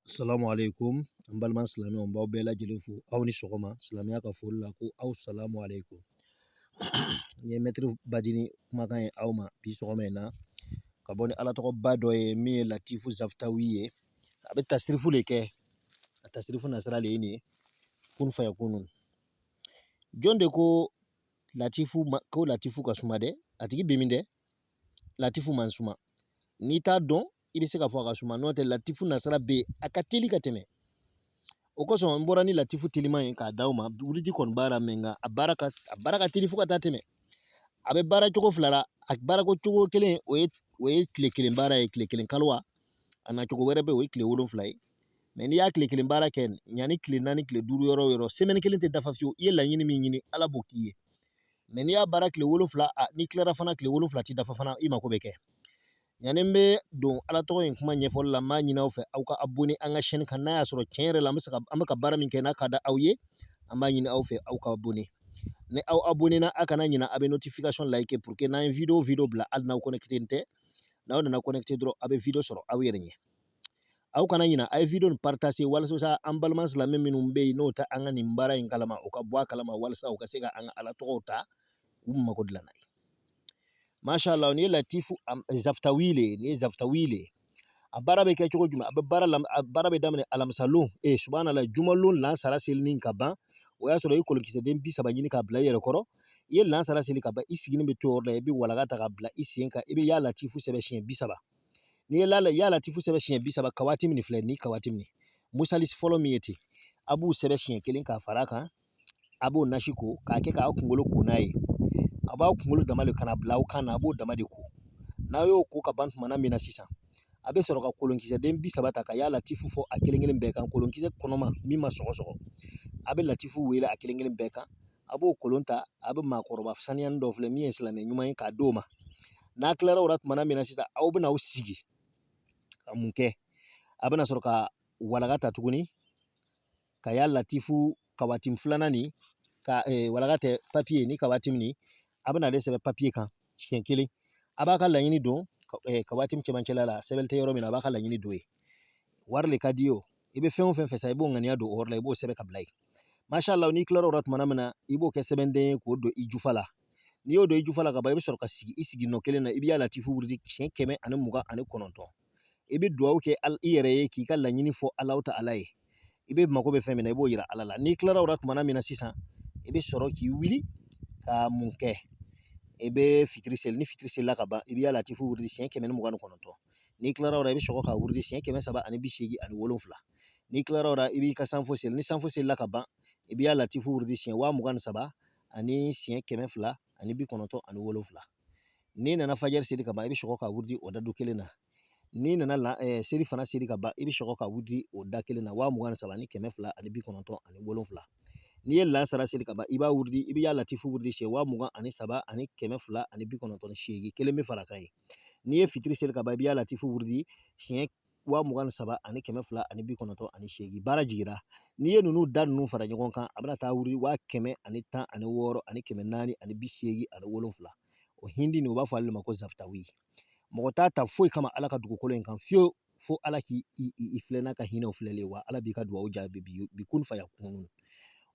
asalamu aleykum an balima silamɛw n b'aw bɛɛ lajɛlen fo aw ni sɔgɔma silamɛya ka foli la ko aw salamu aleykum n ye mɛtiri bajini kumakan ye aw ma bi sɔgɔma in na ka bɔ ni ala tɔgɔba dɔ ye min ye latifu zafutawi ye a bɛ tasirifu de kɛ a tasirifu nasira de ye nin ye kun fayakunu jɔn de ko latifu ko latifu ka suma dɛ a tigi bɛ min dɛ latifu man suma n'i t'a dɔn i bɛ se ka fɔ a ka suma n'o tɛ latifu nasira bɛ yen a ka teli ka tɛmɛ o kosɔn n bɔra ni latifu teliman ye k'a d'aw ma wurudi kɔni b'a la mɛ nka a baara ka a baara ka teli fo ka taa tɛmɛ a bɛ baara cogo fila la a baarakɛcogo kelen o ye o ye tile kelen baara ye tile kelen kaliwa an'a cogo wɛrɛ bɛ yen o ye tile wolonfila ye mɛ n'i y'a tile kelen baara kɛ yanni tile naani tile duuru yɔrɔ yɔrɔ semɛni kelen tɛ dafa fiyewu i ye laɲini min ɲini ala b'o k'i ye mɛ n'i y'a baara tile wolonfila n'i tilara fana tile wolonfila tɛ dafa fana i mako bɛ kɛ Yanni n bɛ don ala tɔgɔ in kuma ɲɛfɔli la n b'a ɲin'aw fɛ aw ka abonné an ka chaîne kan n'a y'a sɔrɔ tiɲɛ yɛrɛ la an bɛ se ka an bɛ ka baara min kɛ n'a ka di aw ye an b'a ɲini aw fɛ aw ka abonné ni aw abonné na a kana ɲina a bɛ notification like pour que n'an ye video o video bila hali n'aw connecté tɛ n'aw nana connecté dɔrɔn aw bɛ video sɔrɔ aw yɛrɛ ɲɛ aw kana ɲina a ye video nin partager walasa an balima silamɛ minnu bɛ yen n'o tɛ an ka nin baara in kalama o ka bɔ a kalama walasa u ka se ka an ka ala tɔgɔw ta u mago dilan n'a ye masha Allah nin ye latifu zafutawi le nin ye zafutawi le a baara bɛ kɛ cogo jumɛn a bɛ baara la a baara bɛ daminɛ alamisalon ee subahana Allah jumalon lansara selini ka ban o y'a sɔrɔ i ye kolonkisɛden bi saba ɲini k'a bila i yɛrɛ kɔrɔ i ye lansara seli ka ban i sigini bɛ to yɔrɔ la i bɛ walaga ta ka bila i sen kan i bɛ ya latifu sɛbɛn siɲɛ bi saba n'i ye ya latifu sɛbɛn siɲɛ bi saba kawatimu filɛ nin kawatimu musalasi fɔlɔ min ye ten a b'o sɛbɛn siɲɛ kelen k'a fara a kan a b'o nasi ko k'a kɛ k'aw kunkolo ko n'a ye a b'aw kunkolo dama de kana bila aw kan na a b'o dama de ko n'a y'o ko ka ban tumana min na sisan a bɛ sɔrɔ ka kolonkisɛden bi saba ta ka ya latifu fɔ a kelen kelen bɛɛ kan kolonkisɛ kɔnɔma min ma sɔgɔsɔgɔ a bɛ latifu wele a kelen kelen bɛɛ kan a b'o kolon ta a bɛ maakɔrɔba saniyani dɔ filɛ min ye silamɛ ɲuman ye k'a d'o ma n'a tilara o la tumana min na sisan aw bɛna aw sigi ka mun kɛ a bɛna sɔrɔ ka walaka ta tuguni ka ya latifu kawatimu filanan nin ka eh, walaka tɛ papiye nin kawatimu nin a bɛna ale sɛbɛn papiye kan siɲɛ kelen a b'a ka laɲini don eh, kawatimu cɛmancɛla la sɛbɛn tɛ yɔrɔ min na a b'a ka laɲini don ye wari le ka di o i bɛ fɛn o fɛn fɛ sa i b'o ŋaniya don o yɔrɔ la i b'o sɛbɛn ka bila yen masha Allah n'i tilara o la tuma min na i b'o kɛ sɛbɛnden ye k'o don i jufa la n'i y'o don i jufa la ka ban i bɛ sɔrɔ ka sigi i sigi nɔ kelen na i bɛ ya latifu wurudi siɲɛ kɛmɛ ani mugan ani kɔnɔntɔn i bɛ dugawu kɛ i yɛrɛ ye k'i ka laɲini fɔ Alahu Taala ye i bɛ mako bɛ fɛn min na i b'o yira Ala la n'i kilara o la tumana min na sisan i bɛ sɔrɔ k'i wuli ka mun kɛ i bɛ fitiri seli ni fitiri selila ka ban i bɛ ya latifu wurudi siɲɛ kɛmɛ ni mugan ni kɔnɔntɔn n'i kilara o la i bɛ sɔrɔ ka wurudi siɲɛ kɛmɛ saba ani bi seegin ani wolonwula n'i kilara o la i b'i ka sanfo seli ni sanfo selila ka ban i bɛ ya latifu wurudi siɲɛ waa mugan ni saba ani siɲɛ kɛmɛ fila ani bi kɔnɔntɔn ani wolonwula n'i nana fajiri seli ka ban i bɛ sɔrɔ ka wurudi o adadu kelen na n'i nana selifana seli ka ban i bɛ sɔrɔ ka wurudi o da kelen na waa mugan ni saba ni kɛmɛ fila ani bi kɔnɔntɔn ani wolonwula n'i ye lasara seli ka ban i b'a wurudi i bɛ ya latifu wurudi siɲɛ waa mugan ani saba ani kɛmɛ fila ani bi kɔnɔntɔn ni seegin kelen bɛ fara kan ye n'i ye fitiri seli ka ban i bɛ ya latifu wurudi siɲɛ waa mugan ni saba ani kɛmɛ fila ani bi kɔnɔntɔn ani seegin baara jigira n'i ye ninnu da ninnu fara ɲɔgɔn kan a bɛna taa wurudi waa kɛmɛ ani tan ani wɔɔrɔ ani kɛmɛ naani ani bi seegin ani wolonfila o hindi nin u b'a fɔ ale ma ko zaftawi mɔgɔ t'a ta foyi kama ala ka dugukolo in kan fiyewu fo ala k'i filɛ n'a ka hinɛw filɛlen wa ala b'i ka dugawu jaabi bi kun fayakunu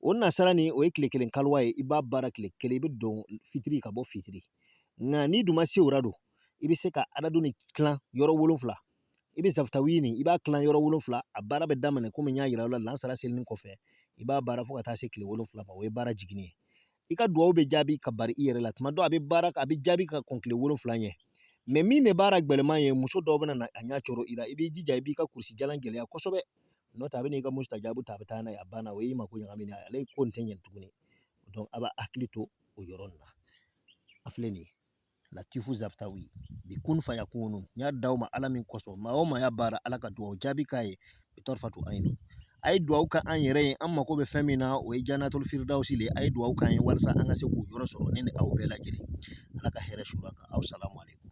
o nasara nin o ye tile kelen kaliwa ye i b'a baara tile kelen i bɛ don fitiri ka bɔ fitiri nka n'i dun ma se o la don i bɛ se ka adadu nin tilan yɔrɔ wolonwula i bɛ zaftawi nin i b'a tilan yɔrɔ wolonwula a baara bɛ daminɛ komi n y'a yira aw la lansara selini kɔfɛ i b'a baara fo ka taa se tile wolonwula ma o ye baara jiginni ye i ka dugawu bɛ jaabi ka bari i yɛrɛ la tuma dɔ a bɛ baara a bɛ jaabi ka kɔn tile wolonwula ɲɛ mais min de baara gɛlɛman ye muso dɔw bɛna a ɲɛ coron i la i b'i jija i b'i ka kurusi jala gɛlɛya kosɛbɛ n'o tɛ a bɛn'i ka mustajabu ta a bɛ taa n'a ye a banna o y'i mako ɲagami n'a ye ale ko nin tɛ ɲɛ tuguni donc a b'a hakili to o yɔrɔ nin na a filɛ nin ye latifu zaftawi bi kun fayakunu n y'a d'aw ma ala min kosɔn maa o maa y'a baara ala ka dugawu jaabi k'a ye bi tarifatu ayinu a ye dugawu kɛ an yɛrɛ ye an mako bɛ fɛn min na o ye janatuli firidawusi le a ye dugawu k'an ye walasa an ka se k'o yɔrɔ sɔrɔ ne ni aw bɛɛ lajɛlen ala ka hɛrɛ suur'an kan aw salamu aleykum